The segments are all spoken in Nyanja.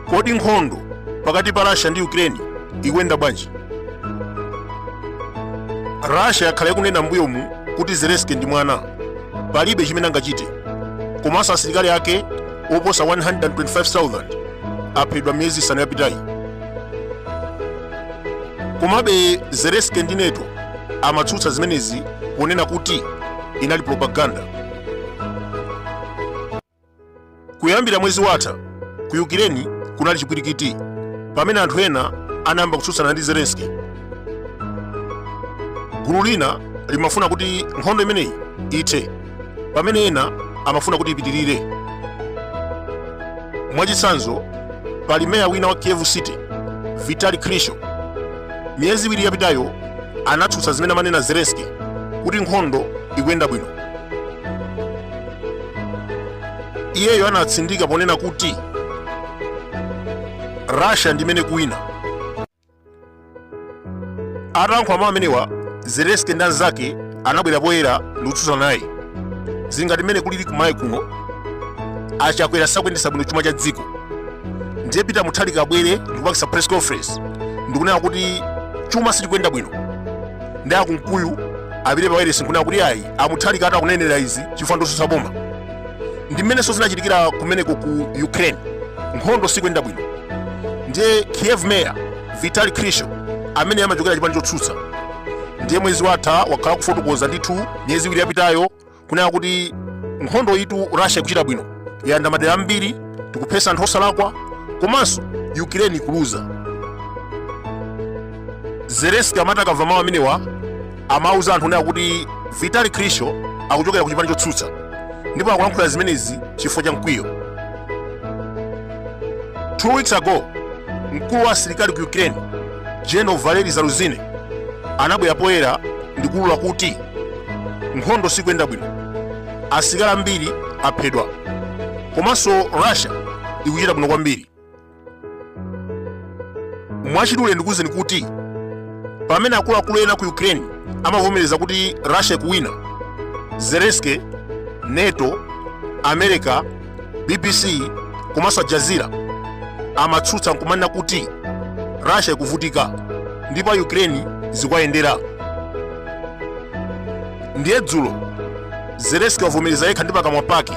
kodi nkhondo pakati pa russia ndi ukraine ikuyenda bwanji russia yakhala ikunena mbuyomu kuti zelensky ndi mwana palibe chimene angachite komanso asilikali ake oposa 125,000 aphedwa miyezi isanu yapitayi komabe zelensky ndi nato amatsutsa zimenezi ponena kuti inali propaganda kuyambira mwezi watha ku ukraine kunali chipwirikiti pamene anthu ena anayamba kutsutsana ndi zelensky gulu lina limafuna kuti nkhondo imeneyi ithe pamene ena amafuna kuti ipitirire. Mwachitsanzo, pali meya wina wa Kiev City, Vitali Klitschko. Miyezi iwiri yapitayo anatsutsa zimene amanena Zelensky kuti nkhondo ikuyenda bwino. Iyeyo anatsindika ponena kuti Russia ndi imene ikuwina. atalankhula mawu amenewa zelensky ndi anzake anabwera poyera ndikutsutsana naye zili ngati mmene kulili kumalawi kuno achakwera sakuyendetsa bwino chuma cha dziko ndiye peter mutharika abwere ndikupangitsa press conference ndikunena kuti chuma sichikuyenda bwino ndi akunkuyu apite pawailesi nkunena kuti ayi amutharika ati akunenera izi chifukwa ndotsutsa boma ndi mmenenso zinachitikira kumeneko ku ukraine nkhondo sikuyenda bwino ndiye kiev mayor vitali klitschko amene amachokera chipani chotsutsa ndiye mwezi watha wakhala akufotokoza ndithu miyezi iwiri yapitayo kunena kuti nkhondoyitu russia ikuchita bwino yalanda madera ambiri tikuphetsa anthu osalakwa komanso ukraine ikuluza zelensky amati akamva mawu amenewa amauza anthu kunena kuti vitali klitschko akuchokera ku chipani chotsutsa ndipo akulankhula zimenezi chifukwa cha mkwiyo two weeks ago mkulu wa asilikali ku ukraine general valery zaluzhnyi anabwera poyera ndi kuulula kuti nkhondo sikuyenda bwino asilikali ambiri aphedwa komanso russia ikuchita bwino kwambiri mwachidule ndikuwuzeni kuti pamene akuluakulu ena ku ukraine amavomereza kuti russia ikuwina zelensky nato america bbc komanso al jazeera amatsutsa nkumanena kuti russia ikuvutika ndipo a ukraine zikuwayendera ndiye dzulo zelensky wavomereza yekha ndi pakamwa pake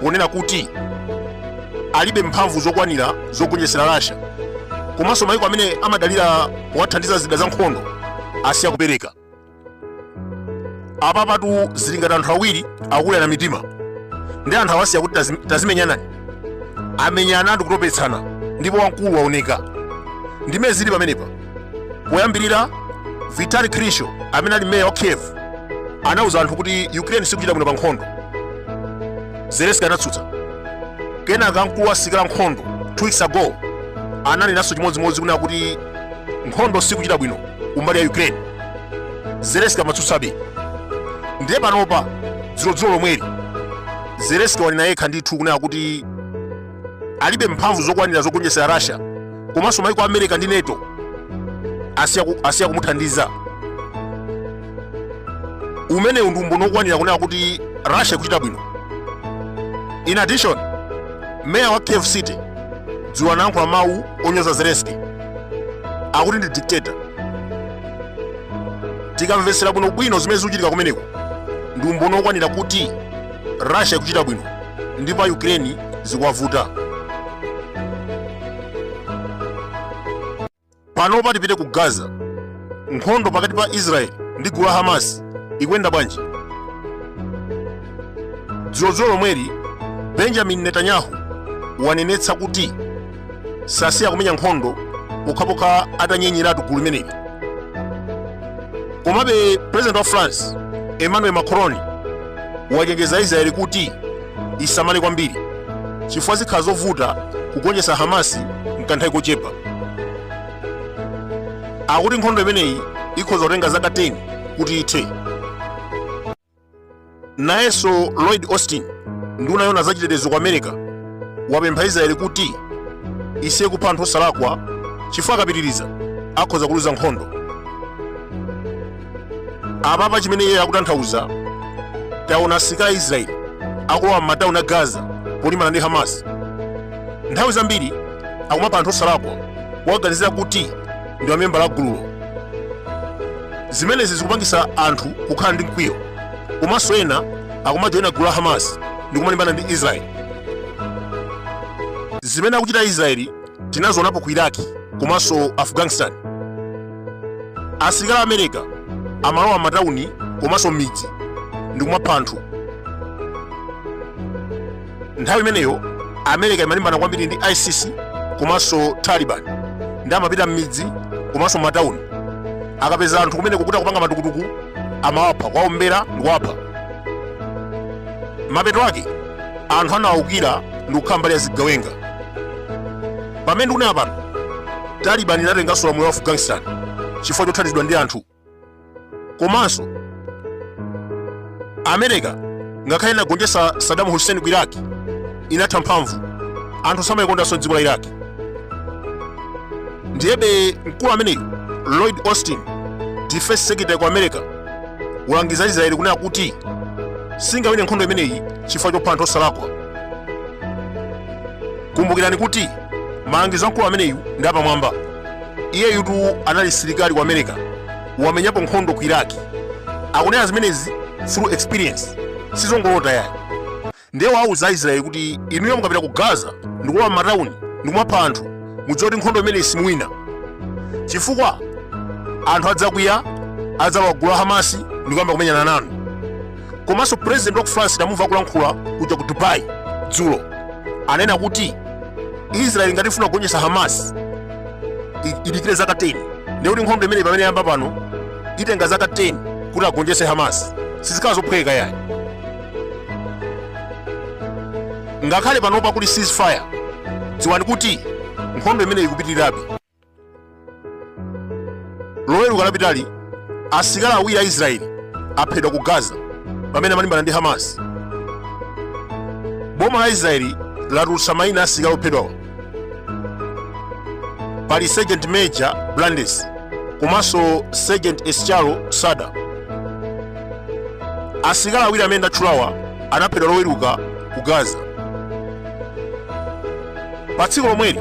ponena kuti alibe mphamvu zokwanira zogonjetsera Russia komanso maiko amene amadalira kuwathandiza zida za nkhondo asiya kupereka apapatu zili ngati anthu awiri akukulirana mitima ndi anthu awasiya kuti tazim- tazimenyanani amenyana ndikutopetsana ndipo wamkulu waoneka ndimene zili pamenepa poyambirira vitali klitschko amene ali meya wa kiev anauza anthu kuti ukraine sikuchita bwino pa nkhondo zelenski anatsutsa kenaka mkulu wa asilikali a nkhondo two weeks ago ananenanso chimodzimodzi kunena kuti nkhondo sikuchita bwino kumbali ya ukraine zelenski amatsutsabe ndiye panopa dzulo dzulo lomweli zelenski wanena yekha ndithu kunena kuti alibe mphamvu zokwanira zogonjetsera russia komanso maiko a america ndi nato asiya ku- asiya kumuthandiza umenewu ndi umboni wokwanira kunena kuti russia ikuchita bwino in addition meya wa kiev city dzulo anayankhula mawu onyoza zelenski akuti ndi dictator tikamvetsera bwinobwino zimene zikuchitika kumeneko ndi umboni wokwanira kuti Russia ikuchita bwino ndipo a Ukraine zikuwavuta. Panopa tipite ku Gaza. Nkhondo pakati pa Israel ndi gulu la Hamas ikuyenda bwanji? Dzulo dzulo lomweli Benjamin Netanyahu wanenetsa kuti sasiya kumenya nkhondo pokhapokha atanyenyeratu gulu limeneli komabe president wa france emmanuel macron wachenjeza israeli kuti isamale kwambiri chifukwa zikhala zovuta kugonjetsa hamasi mkanthawi kochepa akuti nkhondo imeneyi ikhoza kutenga zaka 10 kuti ithe nayenso lloyd austin nduna yoona zachitetezo ku america wapempha israeli kuti isiye kupha anthu osalakwa chifukwa akapitiriza akhoza kuluza nkhondo apapa chimene iye akutanthauza taona asirikali a israeli akulowa m'matauni a gaza polimbana ndi hamas nthawi zambiri akumapha anthu osalakwa kuwaganizira kuti ndi mamembala a gululo zimenezi zikupangisa anthu kukhala ndi mkwiyo komanso ena akumajoyina gulu la hamas ndi kumalimbana ndi israeli zimene akuchita israeli tinazionapo ku iraki komanso afghanistan asilikali a america amalowa m'matawuni komanso m'midzi ndi kumapha anthu nthawi imeneyo america imalimbana kwambiri ndi isis komanso taliban ndi amapita m'midzi komanso m'matauni akapeza anthu kumene kukuta kupanga matukutuku amawapha kwaombera ndi kuwapha mapeto ake anthu anawaukira ndi kukhala mbali ya zigawenga pamene ndikunena pano taliban inatenganso ulamuliro wa afghanistan chifukwa chothandizidwa ndi anthu komanso america ngakhale inagonjetsa saddam hussein ku iraq inatha mphamvu anthu samayikondanso m'dziko la iraq ndiyebe mkulu ameneyu lloyd austin defense secretary ku america walangiza israeli kunena kuti singawine nkhondo imeneyi chifukwa chopha anthu osalakwa kumbukirani kuti malangizo a mkulu ameneyu ndi apamwamba iyeyutu anali msilikali ku america wamenyapo nkhondo ku iraki akunena zimenezi through experience sizongolota yayi ndiye wauza aisraeli kuti inuyo mukapita ku gaza ndikulowa m'matawuni ndikumapha anthu mudziwe kuti nkhondo imeneyi simuwina chifukwa anthu adzakwiya adzalowa gulu la hamasi ndikuyamba kumenyana nanu komanso president wa ku france tamumva akulankhula kuja ku dubai dzulo anena kuti israel ngati ifuna kugonjetsa hamas i- idikire zaka 10 ndiye kuti nkhondo imeneyi pamene yamba pano itenga zaka 10 kuti agonjetse hamas sizikhala zophweka yayi ngakhale panopa kuli ceasefire dziwani kuti nkhondo imeneyi ikupitirirabe loweruka lapitali asilikali awiri a israeli aphedwa ku gaza pamene amalimbana ndi hamas boma la israeli latulutsa mayina a asilikali ophedwawa pali sergeant major brandes komanso sergeant escharo sada asilikali awiri amene ndatchulawa anaphedwa loweruka ku gaza pa tsiku lomweli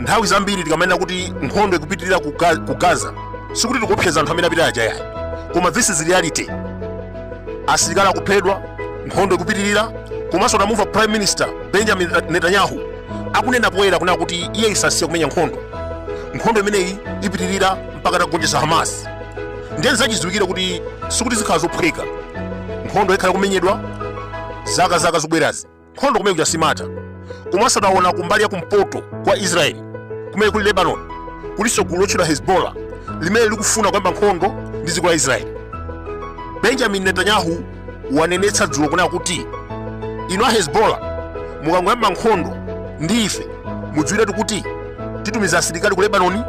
nthawi zambiri tikamanena kuti nkhondo ikupitirira ku Ga- ku gaza sikuti tikuopseza anthu amene apita aja yayi koma this is reality asilikali akuphedwa nkhondo ikupitirira komanso tamumva prime minister benjamin netanyahu akunena poyera kunena kuti iye sasiya kumenya nkhondo nkhondo imeneyi ipitirira mpaka tagonjetsa hamas ndiye ndi zachidziwikire kuti sikuti zikhala zophweka nkhondo ikhala ikumenyedwa zaka zaka zobwerazi nkhondo kumene kuja simatha komanso taona kumbali ya kumpoto kwa israeli kumene kuli lebanon kulinso gulu lotchedwa hezbollah limene likufuna kuyamba nkhondo ndi dziko la israeli benjamin netanyahu wanenetsa dzulo kunena kuti inu a hezbollah mukangoyamba nkhondo ndi ife mudziwiretu kuti titumiza asilikali ku lebanoni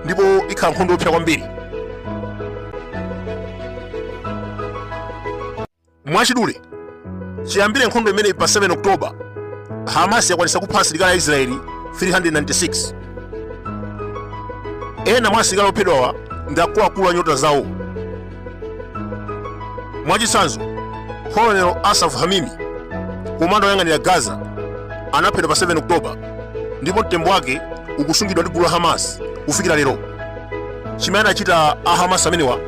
ndipo ikhala nkhondo yoopsa kwambiri Mwachidule, chiyambire nkhondo imeneyi pa 7 Oktoba, Hamas yakwanitsa kupha asilikali a Israeli 396. Ena mwa asilikali ophedwawa ndi akuluakulu a nyota zawo. Mwachitsanzo, Colonel Asaf Hamimi, komanda woyang'anira Gaza, anaphedwa pa 7 Oktoba ndipo mtembo wake ukusungidwa ndi gulu la Hamas kufikira lero. Chimene anachita a Hamas amenewa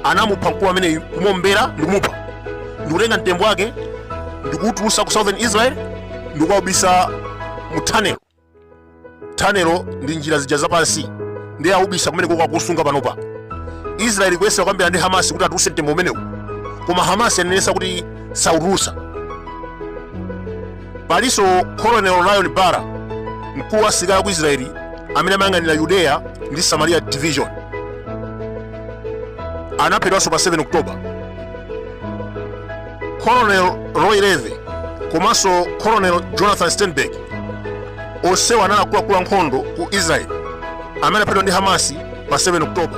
anamupha mkulu ameneyu kumuombera ndikumupha ndikutenga mtembo wake ndikuwutulusa ku southern israel ndikukawubisa mu tanelo tanelo ndi njira zija zapansi ndiye awubisa kumeneko akusunga panopa israeli kuyesera kukambirana ndi hamasi kuti atuluse mtembo umenewu koma hamasi yanenesa kuti sawutulusa palinso colonel lion bar mkulu wa asilikali aku israeli amene amayang'anira yudeya ndi samaria division anaphedwanso pa 7 oktoba colonel roy levy komanso colonel jonathan steinberg onsewa anali akuluakulu ankhondo ku israeli amene anaphedwa ndi hamasi pa 7 oktoba